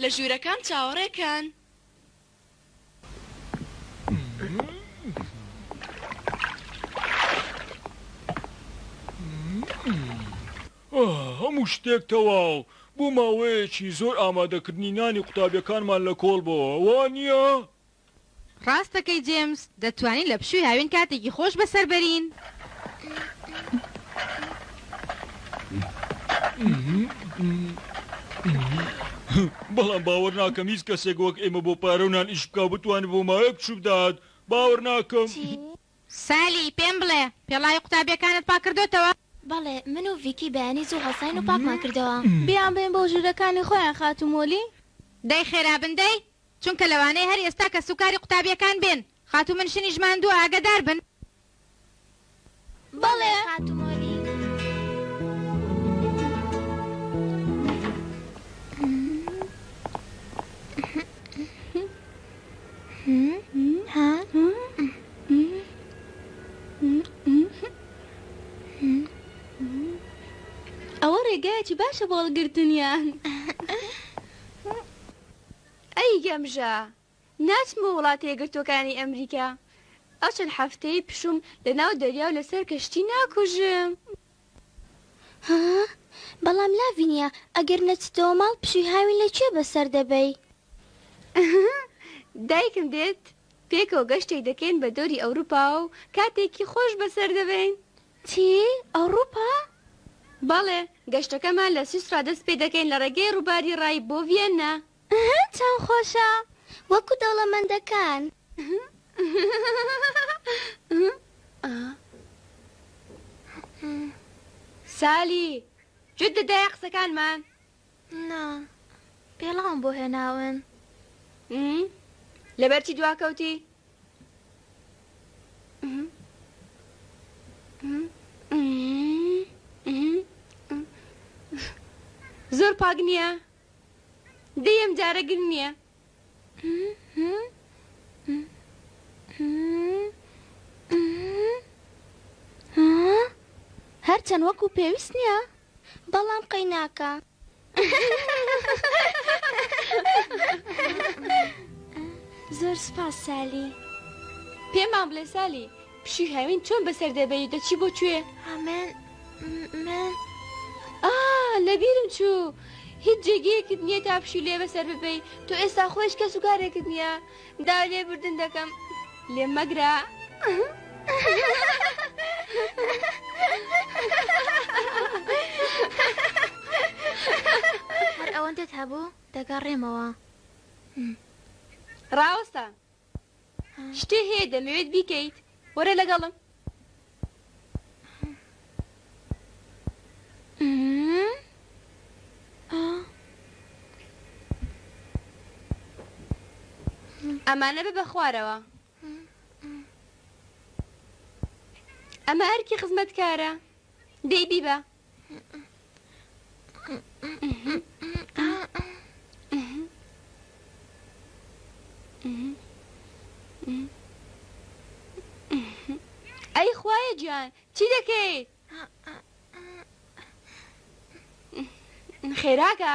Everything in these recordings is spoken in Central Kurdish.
لە ژوورەکان چاوەڕێ کەن. هەموو شتێک تەواو. بۆ ماوەیەکی زۆر ئامادەکردنی نانی قوتابیەکانمان لەکۆڵ بۆوە، وانیە؟ ڕاست دەکەی جێمس دەتوانین لە پشوی هاوین کاتێکی خۆش بەسەر بەرین. بەڵام باوەر ناکەم هیچ کەسێک وەک ئێمە بۆ پارە و نان ئیش بکاو بتوانێت بۆ ماوەیەک پشو بدات باوەر ناکەم. سالی، پێم بڵێ پێڵاوی قوتابیەکانت پاک کردۆتەوە؟ بەڵێ، من و ڤیکی بەیانی زوو هەڵساین و پاکمان کردەوە. بیانبەین بۆ ژوورەکانی خۆیان خاتوو مۆلی. دەی خێرا بن دەی چونکە لەوانەیە هەر ئێستا کەس و کاری قوتابیەکان بێن خاتوو منشنیش ماندووە ئاگەدار بن. بەڵێ خاتوو مۆری. ئەوە ڕێگایەکی باشە بۆ هەڵگرتنیان. ئەی گەمژە ناچم بۆ وڵاتە یەکگرتووەکانی ئەمریکا ئەو چەند حەفتەیەی پشووم لە ناو دەریا و لەسەر کەشتی ناکوژم. ها بەڵام لاڤینیا ئەگەر نەچیتەوە ماڵ پشووی هاوین لە کوێ بەسەر دەبەی؟ دایکم دێت پێکەوە گەشتێک دەکەین بە دەوری ئەوروپا و کاتێکی خۆش بەسەر دەبەین چی؟ ئەوڕوپا؟ بەڵێ، گەشتەکەمان لە سویسڕا دەست پێ دەکەین لە ڕێگەی ڕووباری ڕای بۆ ڤیەننا. ئەهە چەند خۆشە، وەکو دەوڵەمەندەکان. سالی، گوێت دەدایە قسەکانمان؟ نا پێڵاوم بۆ هێناون. ئم لەبەر چی دواکەوتی؟ زۆر پاک نییە؟ دەی ئەمجارە گرنگ نییە. هەرچەند وەکو پێویست نیە بەڵام قەیناکە. زۆر سوپاس سالی. پێمان بڵێ سالی پشووی هاوین چۆن بەسەر دەبەی و دەچی بۆ کوێ؟ من من ئا لەبیرم چوو هیچ جێگەیەکت نییە تا پشوو لێ بەسەر ببەی تۆ ئێستا خۆیش کەس و کارێکت نییە داو لێ بردن دەکەم لێم مەگرە هەر ئەوەندەت هەبوو دەگەڕێمەوە ڕاوەستە شتێ هەیە دەمەوێت بیکەیت وەرە لەگەڵم. ئەمانە ببە خوارەوە. ئەمە ئەرکی خزمەتکارە. دەی بیبە. ئەی خوایە گیان چی دەکەیت؟ خێراکە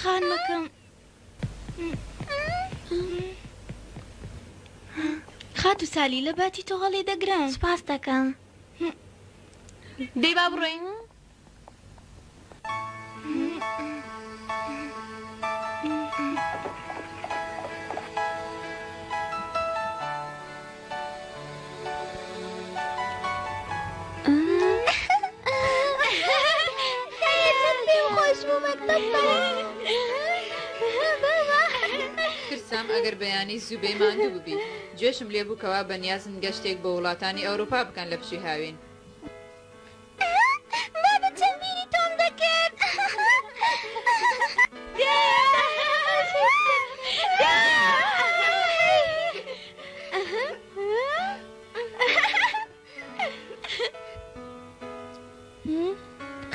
خانمەکەم خات و سالی لە باتی تۆ هەڵی دەگرم سپاس دەکەم دەی با بڕۆین ئەگەر بەیانی زوبەی ماندوو ببی جێشم لێبووکەوە بەنیازن گەشتێک بۆ وڵاتانی ئەوروپا بکەن لە پشی هاوین بابت چەند بیری تۆم دەکرد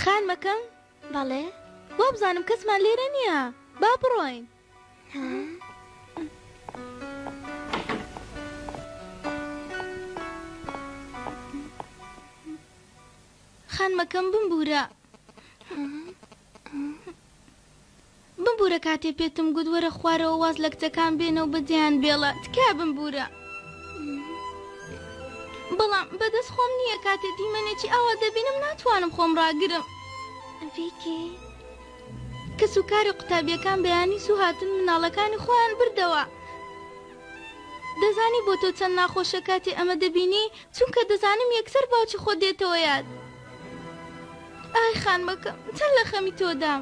خانمەکەم بەڵێ وابزانم کەسمان لێرە نییە با بڕۆین. خانمەکەم بمبورە بمبورە کاتێ پێتم گوت وەرە خوارەوە واز لە کچەکان بێنە و بەجێیان بێڵە تکا بمبورە بەڵام بەدەست خۆم نییە کاتێ دیمەنێکی ئاوا دەبینم ناتوانم خۆم ڕاگرم فیکی کەس و کارە قوتابیەکان بەیانی زوو هاتن مناڵەکانی خۆیان بردەوە دەزانی بۆ تۆ چەند ناخۆشە کاتێ ئەمە دەبینی چونکە دەزانم یەکسەر باوکی خۆت دێتەوە یاد ئای خانمەکەم چەند لە خەمی تۆدام.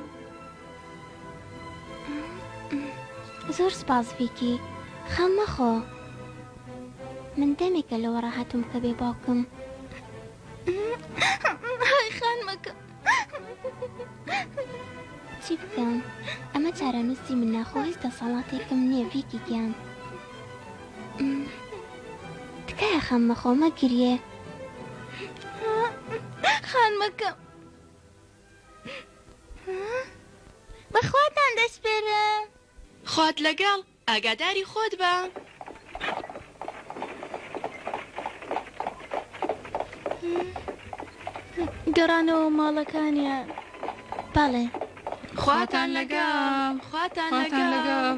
زۆر سپاس ڤیکی خەم مەخۆ من دەمێکە لەوە ڕاهاتوم کە بێ باوکم. ئای خانمەکەم. چی بکەم ئەمە چارەنووسی منە خۆ هیچ دەسەڵاتێکم نییە ڤیکی گیان تکایە خەم مەخۆ مەگریێ خانمەکەم بەخواتان دەسپێرم خوات لەگەڵ ئاگاداری خۆت بە. گەڕانەوە ماڵەکانیان بەڵێ. خواتان لەگەڵ خواتان لەگەڵ.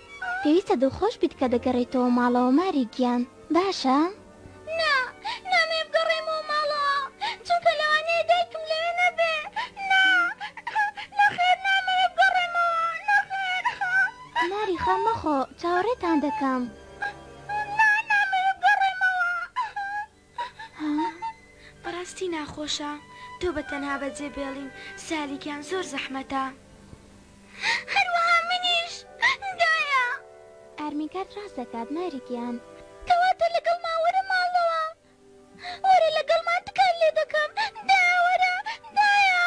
پێویستە دڵخۆش بیت کە دەگەڕێیتەوە ماڵەوە ماری گیان، باشە؟ نا، نامەوێ بگەڕێمەوە ماڵەوە، چونکە لەوانەیە دایکم لەوێ نەبێ، نا، نەخێر، نامەوێ بگەڕێمەوە، نەخێر. ماری خەم مەخۆ، چاوەڕێتان دەکەم. نا، نامەوێ بگەڕێمەوە. بەڕاستی ناخۆشە تۆ بە تەنها بەجێ بێڵین سالی گیان زۆر زەحمەتە. هەروەها منیش دایە. ئارمی کارت ڕاست دەکات ماری گیان. کەواتە لەگەڵمان وەرە ماڵەوە. وەرە لەگەڵمان تکات لێ دەکەم دایە وەرە دایە.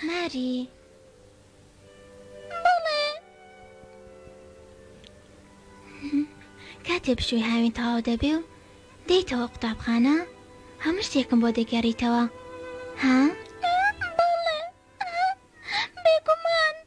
ماری، بەڵێ. کاتێ پشووی هاوین تەواو دەبێ و دێیتەوە قوتابخانە، هەموو شتێکم بۆ دەگێڕیتەوە، ها؟ بەڵێ، بێگومان.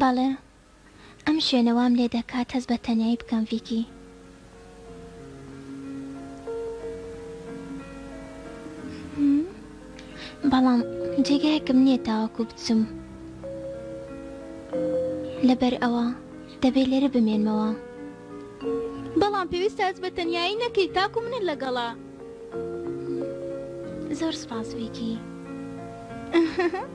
بەڵێ ئەم شوێنە وام لێ دەکات هەست بە تەنیایی بکەم ڤیکی. بەڵام جێگایەکم نییە تاوەکو بچم لەبەر ئەوە دەبێ لێرە بمێنمەوە. بەڵام پێویستە هەست بە تەنیایی نەکەیت تاکو منت لەگەڵە. زۆر سوپاس ڤیکی.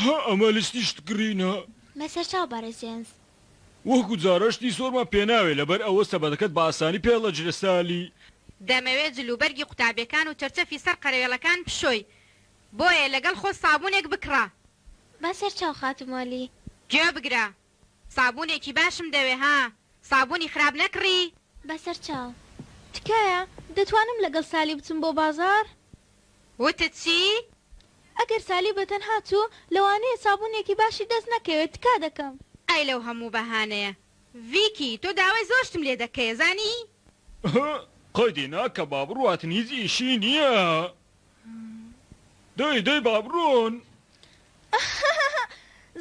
هە ئەمە لستی شتکڕینە. بە سەرچاو بەڕێز جێمس. وهکو جاران شتی زۆرمان پێ ناوێ لەبەر ئەوە سەبەتەکەت بە ئاسانی پێ ڵەجرە سالی. دەمەوێ جل و بەرگی قوتابیەکان و چەرچەفی سەر قەرەوێڵەکان بشۆی بۆیە لەگەڵ خۆ سابونێک بکڕە. بە سەرچاو خاتو مۆلی. گوێ بگرە سابونێکی باشم دەوێ ها سابونی خراپ نەکڕی. بەسەرچاو. تکایە دەتوانم لەگەڵ سالی بچم بۆ بازاڕ؟ وتت چی؟ ئەگەر سالی بەتەنها چوو لەوانەیە سابونێکی باشی دەست نەکەوێت تکا دەکەم. ئای لەو هەموو بەهانەیە. ڤیکی تۆ داوای زۆر شتم لێ دەکەیە زانی. ئه قەیدی ناکە با بڕوات هیچ ئیشی نیە. دەی دەی با بڕۆن.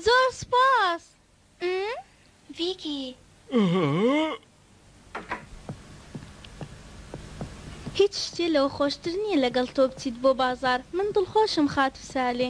زۆر سوپاس. ڤیکی. هیچ شتێ لەوە خۆشتر نییە لەگەڵ تۆ بچیت بۆ بازاڕ من دڵخۆشم خاتوو سالێ.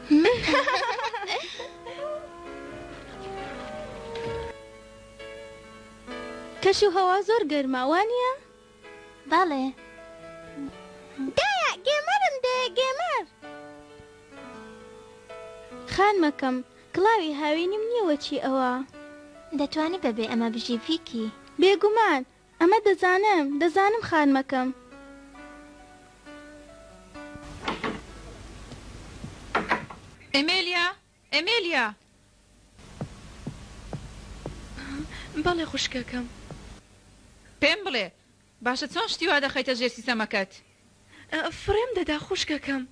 کەش و هەوا زۆر گەرمە وانیە؟ بەڵێ دایە گێمەرم دێ گێمەر. خانمەکەم کڵاوی هاوینم نیە وەچی ئەوە. دەتوانی بەبێ ئەمە بژی ڤیکی. بێگومان ئەمە دەزانم، دەزانم خانمەکەم. ئێمێلیا! ئێمێلیا! بەڵێ خوشکەکەم. پێم بڵێ، باشە چۆن شتی وا دەخەیتە ژێر سیسەمەکەت؟ فڕێم دەدا خوشکەکەم.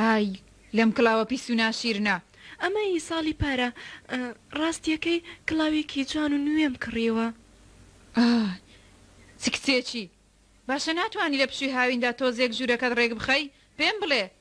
ئای لەم کڵاوە پیس و ناشیرنە. ئەمە ی ساڵی پارە ڕاستیەکەی کڵاوێکی جوان و نوێم کڕیوە. ئای چ کچێکی باشە ناتوانی لە پشوی هاویندا تۆزێک ژوورەکەت ڕێک بخەی پێم بڵێ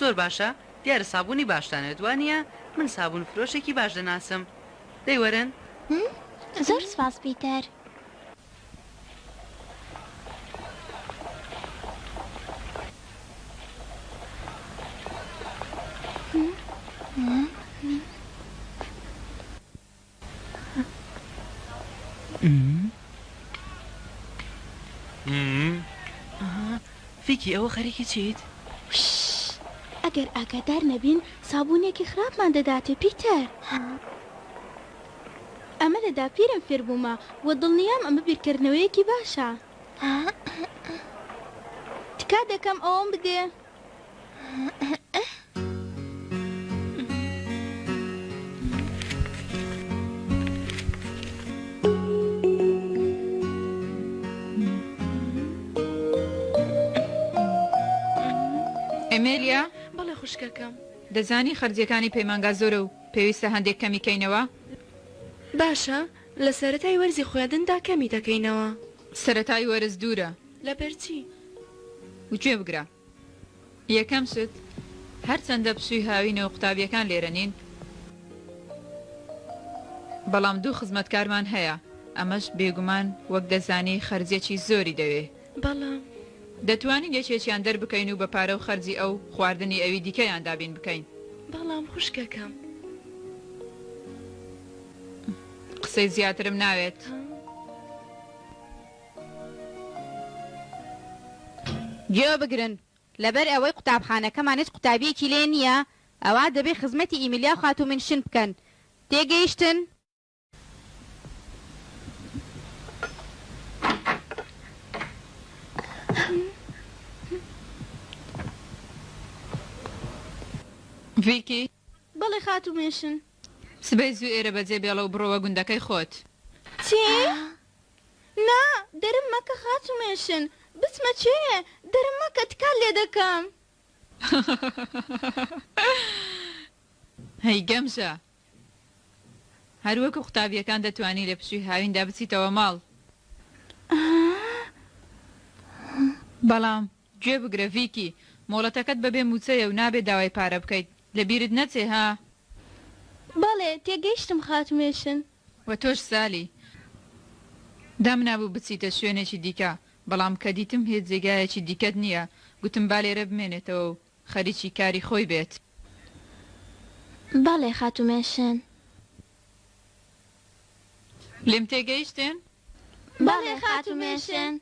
زۆر باشە دیارە سابونی باشتان ئەوێت وانیە من سابون فرۆشێکی باش دەناسم دەی وەرن. زۆر سپاس پیتەر. فیکی ئەوە خەریکی چیت؟ ئەگەر ئاگادار نەبین سابوونێکی خراپمان دەداتێ پیتەر ئەمە لە داپیرم فێربوومە و دڵنیام ئەمە بیرکردنەوەیەکی باشە تکا دەکەم ئەوەم بدێ. ئێمێلیا، بەڵێ خوشکەکەم. دەزانی خەرجیەکانی پەیمانگا زۆرە و پێویستە هەندێک کەمی کەینەوە. باشە، لە سەرەتای وەرزی خوێندندا کەمی دەکەینەوە. سەرەتای وەرز دوورە. لەبەر چی؟ گوێ بگرە. یەکەم شت، هەرچەندە پشووی هاوینە و قوتابییەکان لێرە نین، بەڵام دوو خزمەتکارمان هەیە، ئەمەش بێگومان وەک دەزانی خەرجێکی زۆری دەوێ. بەڵام. دەتوانین یەکێکیان دەربکەین و بە پارە و خەرجی ئەو، خواردنی ئەوی دیکەیان دابین بکەین. بەڵام خوشکەکەم. قسەی زیاترم ناوێت. گوێ بگرن، لەبەر ئەوەی قوتابخانەکەمان هیچ قوتابییەکی لێ نییە، ئەوا دەبێ خزمەتی ئیمیلیا و خاتوو مینشن بکەن. تێگەیشتن؟ ڤیکی، بەڵێ خاتوو مینشن. سبەی زوو ئێرە بەجێ بێڵە و بڕۆوە گوندەکەی خۆت. چی؟ نا، درم مەکە خاتومێشن. بچمە کوێ؟ درم مەکە تکات لێ دەکەم. هەی گەمژە! هەر وەکو قوتابییەکان دەتوانی لە پشووی هاویندا بچیتەوە ماڵ. بەڵام گوێ بگرە ڤیکی، مۆڵەتەکەت بەبێ مووچەیە و نابێ داوای پارە بکەیت. لەبیرت نەچێ ها! بەڵێ، تێگەیشتم خاتومێشن. وە تۆش سالی دامنابوو بچیتە شوێنێکی دیکە بەڵام کە دیتم هیچ جێگایەکی دیکەت نییە گوتم با لێرە بمێنێتەوە و خەریکی کاری خۆی بێت. بەڵێ خاتوو مێشێن. لێم تێگەیشتن؟ بەڵێ خاتوو مێشێن.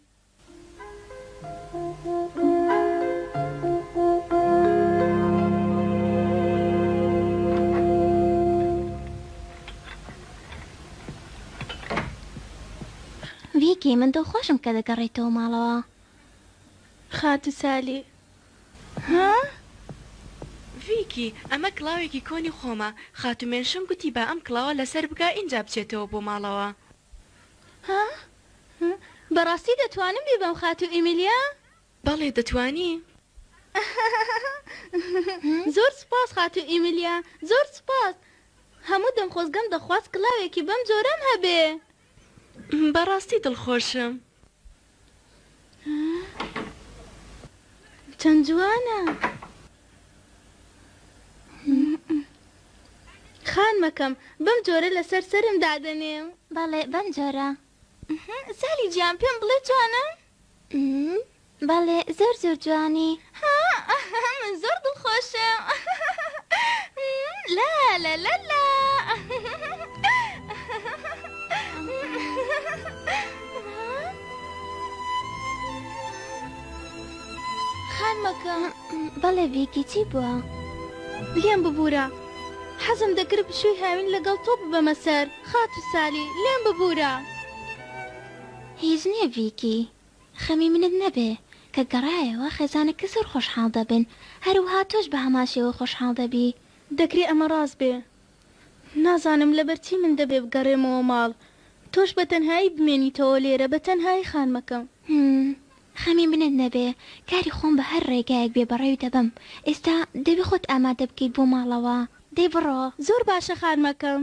ڤیکی، من دڵخۆشم کە دەگەڕێیتەوە ماڵەوە. خاتوو سالی، ها؟ ڤیکی، ئەمە کڵاوێکی کۆنی خۆمە. خاتوو مێنشم گوتی با ئەم کڵاوە لەسەر بکا ئینجا بچێتەوە بۆ ماڵەوە. ها؟ ها؟ بەڕاستی دەتوانم بیبەم خاتوو ئیمیلیا؟ بەڵێ دەتوانی. زۆر سوپاس خاتوو ئیمیلیا، زۆر سوپاس. هەموو دەمخۆزگەم دەخواست کڵاوێکی بەم جۆرەم هەبێ. بەڕاستی دڵخۆشم. چەند جوانە خانمەکەم بەم جۆرە لەسەر سەرم دادەنێم بەڵێ بەم جۆرە زالی گیان پێم بڵێ جوانم؟ بەڵێ زۆر زۆر جوانی. هاا من زۆر دڵخۆشم لالالالالا. خانمەکە. بەڵێ ڤیکی چی بووە. لێم ببورە حەزم دەکرد پشووی هاوین لەگەڵ تۆ ببەمە سەر خاتوو سالی لێم ببورە. هیچ نییە ڤیکی. خەمی منت نەبێ کە گەڕایەوە خێزانەکە زۆر خۆشحاڵ دەبن هەروەها تۆش بە هەمان شێوە خۆشحاڵ دەبی. دەکرێ ئەمە ڕاست بێ نازانم لەبەر چی من دەبێ بگەڕێمەوە ماڵ تۆش بە تەنهایی بمێنیتەوە لێرە بە تەنهایی خانمەکەم. هم خەمی منت نەبێ کاری خۆم بە هەر ڕێگایەک بێ بەڕێوی دەبەم ئێستا دەبێ خۆت ئامادە بکەیت بۆ ماڵەوە دەی بڕۆ. زۆر باشە خانمەکەم.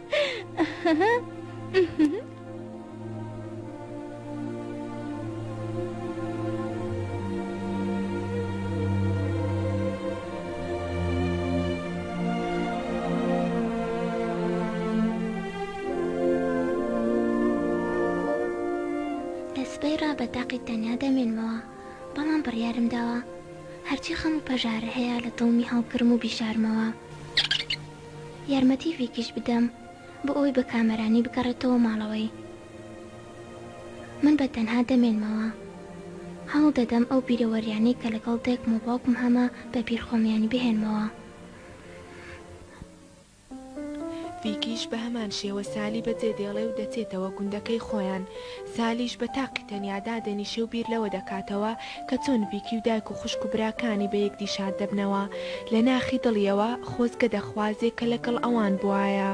تاقی تەنیا دەمێنمەوە بەڵام بڕیارم داوە هەرچی خەم و پەژارە هەیە لە دڵمی هەڵبگرم و بیشارمەوە. یارمەتی ڤیکیش بدەم بۆ ئەوەی بە کامەرانی بگەڕێتەوە ماڵەوەی من بە تەنها دەمێنمەوە هەوڵ دەدەم ئەو بیرەوەریانەی کە لەگەڵ دایکم و باوکم هەمە بە بیر خۆمیانی بهێنمەوە. ڤیکیش بە هەمان شێوە سالی بە جێ دێڵێ و دەچێتەوە گوندەکەی خۆیان سالیش بە تاقی تەنیا دادەنیشێ و بیر لەوە دەکاتەوە کە چۆن ڤیکی و دایک و خوشک و براکانی بە یەکدی شاد دەبنەوە، لە ناخی دڵیەوە خۆزگە دەخوازێ کە لە گەڵ ئەوان بوایە.